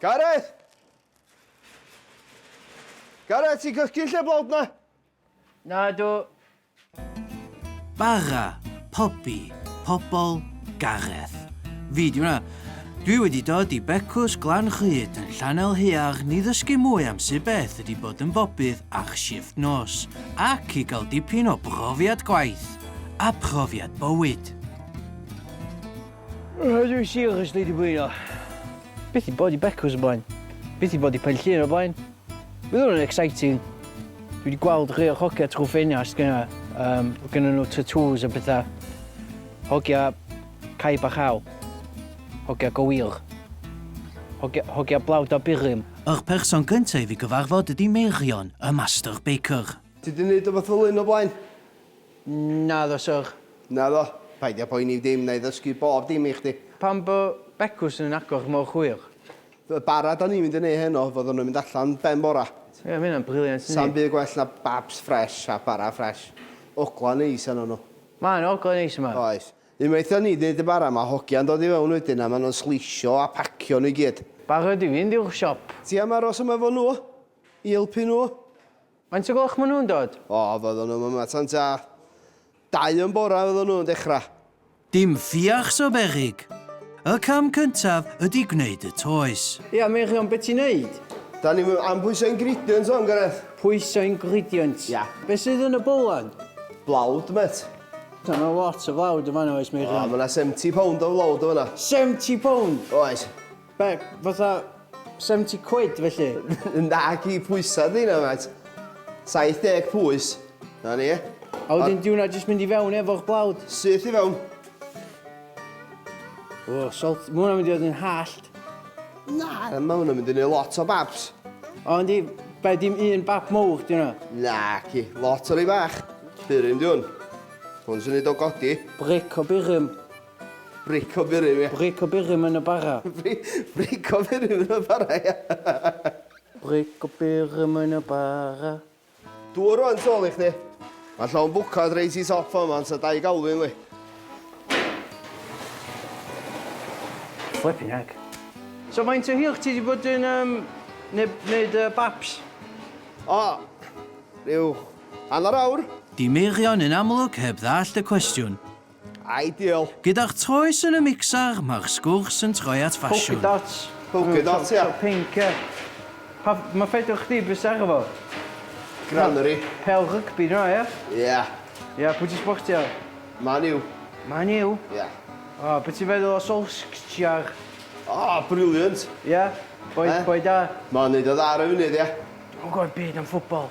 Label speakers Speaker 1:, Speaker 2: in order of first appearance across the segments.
Speaker 1: Gareth! Gareth, ti'n cysgu lle blawd na? Nadw. Bara, pobi, pobol, Gareth. Fi di hwnna. Dwi wedi dod i Becws Glan Rhyd yn Llanel Haearn ni ddysgu mwy am sut beth ydi bod yn bobydd ar shift nos, ac i gael dipyn o brofiad gwaith a profiad bywyd. Rydw i siwr os dwi wedi bwyno. Byth i bod i Becws o blaen. Byth i bod i Penllyn o blaen. Bydd hwn yn exciting. Dwi wedi gweld rhai o'r hogia trwy ffenast gyna. Um, gyda nhw tattoos a bethau. Hogia caib a chael. Hogia go wir. Hogia, hogia blawd a burum. Yr person gyntaf i fi gyfarfod ydi Meirion, y master baker. Ti di neud o fath o lun o blaen? Naddo, syr. Naddo. Paid â poeni dim, wna i ddysgu bob dim i chdi. Pam bo' becws yn agor mor hwyr? Fel bara 'da ni'n mynd i neud heno, fyddan nhw'n mynd allan ben bora. Ie, ma' hynna'n brilliant, yndi? Sa'm byd gwell na babs ffresh a bara ffresh. Ogla neis arnyn nhw. Mae 'na ogla neis yma. Oes. Unwaith 'da ni'n neud y bara, mae hogia'n dod i fewn wedyn a maen nhw'n sleisio a pacio nhw i gyd. Barod i fynd i'r siop. Ti am aros yma efo nhw? I helpu nhw? Faint o gloch maen nhw'n dod? O, fyddan nhw'm yma tan tua dau yn bora fyddan nhw'n dechra. Dim ffiacs o beryg! Y cam cyntaf ydi gwneud y toes. Ia, Meirion, be ti'n neud? Da ni'm am pwyso ingredients wan, Gareth. Pwyso ingredients? Ia. Be sydd yn y bowlen? Blawd, mêt. Da, ma' lot o flawd yn fan'na, oes, Meirion? O, ma' 'na seventy pound o flawd yn fan'na. Seventy pound? Oes. Be, fatha 70 quid felly? Naci, pwysa ydi hynna, mêt. 70 pwys. Na ni. A wedyn di hwnna jyst mynd i fewn efo'r blawd? Syth i fewn. O, salt. Mae hwnna'n mynd i fod yn hallt. Na, mae hwnna'n mynd i wneud lot o babs. O, yndi, be dim un bab mowr di hwnna? Na, ci, lot o rei bach. Burum di hwn. Hwn sy'n neud o godi. Bric o burum. Bric o burum, ia. Bric o burum yn y bara. Bric o burum yn y bara, ia. Bric o burum yn y bara. Dŵr rwan tu ôl i chdi. Mae llon bwcad reit i top fama, ond sa dau galw un, li. Flipping heck. So faint o hir ti wedi bod yn um, wneud uh, baps? O, rhyw hanner awr. Di Meirion yn amlwg heb ddallt y cwestiwn. Ideal! Gyda'r toes yn y mixer, mae'r sgwrs yn troi at ffasiwn. Polka dots. Polka dots, ia. Chow pink, ia. Pa... Mae ffedr chdi, be sydd arno fo? Granary. Pêl rygbi yna, ia? Ia. Ia, pwy ti'n sbortio? Man U. Man U? Ia. O, be ti'n feddwl o Solskjaer? O, brilliant! Ia? Boi... Boi da? Mae'n neud o dda ar y funud, ia. Dwi'm yn gwybod dim byd am ffwtbol.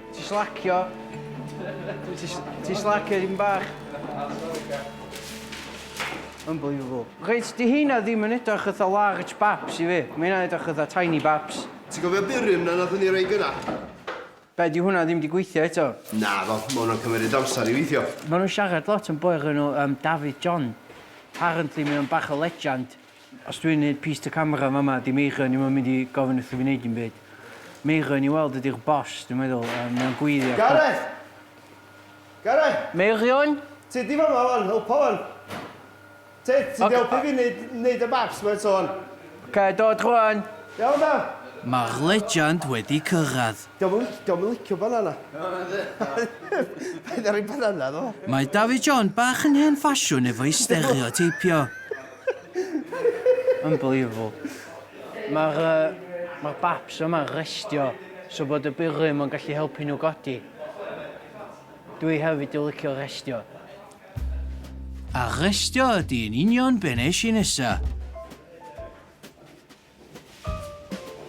Speaker 1: Ti slacio. Ti slacio ddim bach. Unbelievable. Reit, di heina ddim yn edrych ytho large baps i fi. Mae hynna'n edrych ytho tiny baps. Ti'n gofio burium na nathon ni roi gynna? Be, di hwnna ddim di gweithio eto? Naddo, ma hwnna'n cymeryd amser i weithio. Ma nhw'n siarad lot am boi o'r enw yym Dafydd John. Apparently mae o'n bach o legend. Os dwi'n neud piece to camera yn fama 'di Meirion ni'm yn mynd i gofyn wrth i fi neud dim byd. Meirion i weld ydi'r boss dwi'n meddwl a mae o'n gweiddi a pawb... Gareth! Gareth! Meirion? Ti 'di fama 'wan, helpa 'wan. Ti, ti 'di helpu fi neud, neud y maps 'ma eto 'wan. Ocê, dod rŵan! Iawn da! Mae'r legend wedi cyrraedd. Dio'm yn lic- dio'm yn licio banana. Paid â rhoi banana iddo fo. Mae David John bach yn hen ffasiwn efo'i stereoteipio. Unbelievable. Mae'r uh, mae'r baps yma restio so bod y byrym yn gallu helpu nhw godi. Dwi hefyd yn licio restio. A restio ydy yn union be nes i nesa.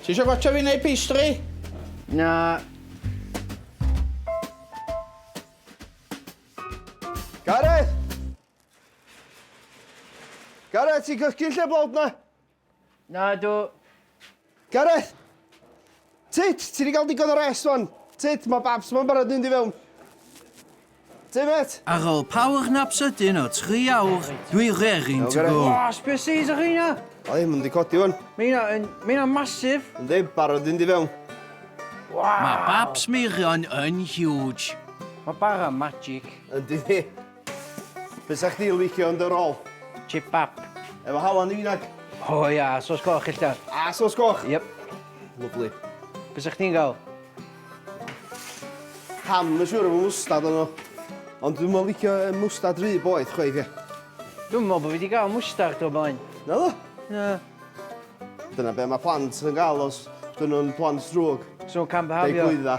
Speaker 1: Ti eisiau gwaetha fi neu pastry? Na, Gareth! Gareth, ti'n cysgu lle blawd na? Na, dw. Gareth! Tit, ti wedi cael digon o rest wan. Tit, mae babs ma'n barod mynd i fewn. Ti, met? Ar ôl power nap sydyn o tri awr, dwi rearing to go. O, species o chi na? O, ddim yn di codi wan. Mae hynna yn... Mae hynna'n masif. Ynddi, barod mynd i fewn. Mae babs Meirion yn huge. Mae bara magic. Ynddi, Fysa chdi licio yn dy rôl? Chip bap. Efo halen i nag? O ia, a sos goch ella? A sos goch? Yep. Lyfli. Be sa chdi'n gael? Ham yn siŵr efo mwstad arno. Ond dwi'm yn licio mwstad rhy boeth chwaith ie. Dwi'm yn meddwl bod fi wedi cael mwstard o'r blaen. Naddo? Na. Dyna be mae plant yn gael os dyn nhw'n plant drwg. So nhw'n cam-byhafio? Deu glwydda.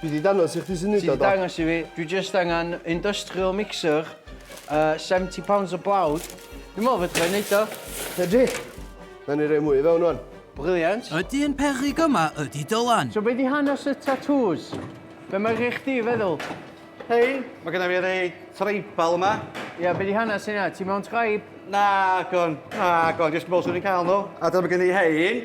Speaker 1: Dwi di dangos i chdi sy'n neud o do? Ti di dangos i fi, dwi just angen industrial mixer, uh, 70 pounds o blawd. Dwi'n meddwl fedra i neud o. Ydy. Na ni rei mwy i fewn wan. Brilliant. Ydy yn peryg yma ydy Dylan. So be di hanes y tatŵs? Be mae rhai chdi feddwl? Hei, mae gyda fi rei tribal yma. Ia, yeah, be di hanes yna? Ti mewn tribe? Na, gwn. Na, gwn. Just meddwl swn i'n cael nhw. A dyma gen i hein.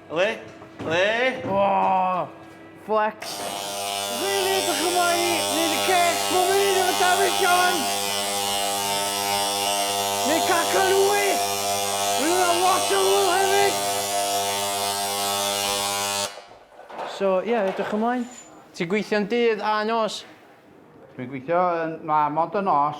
Speaker 1: Le? Le? O! Flex! Rili, ydych yma i wneud y cec bob un efo Dafydd John? Neu Caca Lwy? Rwy'n yna lot o hwyl hefyd! So, ie, yeah, ydych ymlaen? Ti'n gweithio'n dydd a nos? Dwi'n gweithio yn... na, mond y nos.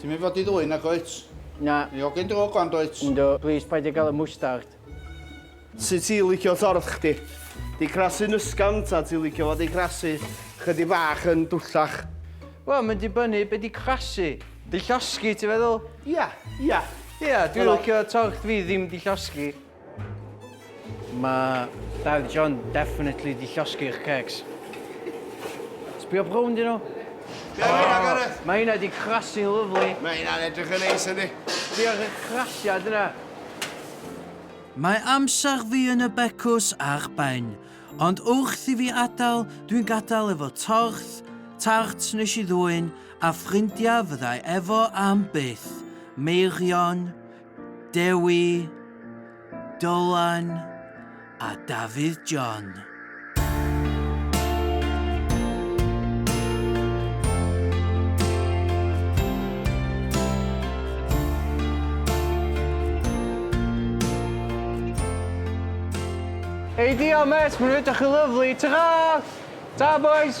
Speaker 1: Ti'n mynd fod i ddwyn nag wyt? Na. Ni hogyn drwg wan dwyt? Yndw, plis paid â gael y mwstard. Sut ti'n licio torth chdi? Di crasu'n ysgafn ta ti'n licio fo di crasu chydig bach yn dwllach? Wel, mae'n dibynnu be di crasu. Di llosgi ti'n feddwl? Ia, ia. Ia, dwi'n licio torth fi ddim di llosgi. Mae Dad John definitely di llosgi eich cecs. Sbio brown dyn nhw. Be am hynna, Gareth? Mae hynna di crasu'n lyflu. Mae hynna'n edrych yn neis, yndi? Diolch i'r crasiad yna. Mae amser fi yn y becws ar ben, ond wrth i fi adael, dwi'n gadael efo torth, tart nes i ddwyn, a ffrindiau fyddai efo am byth. Meirion, Dewi, Dylan a Dafydd John. Ei diolch, Met, mae'n rydych chi lyflu. Ta-ra! Ta, boys!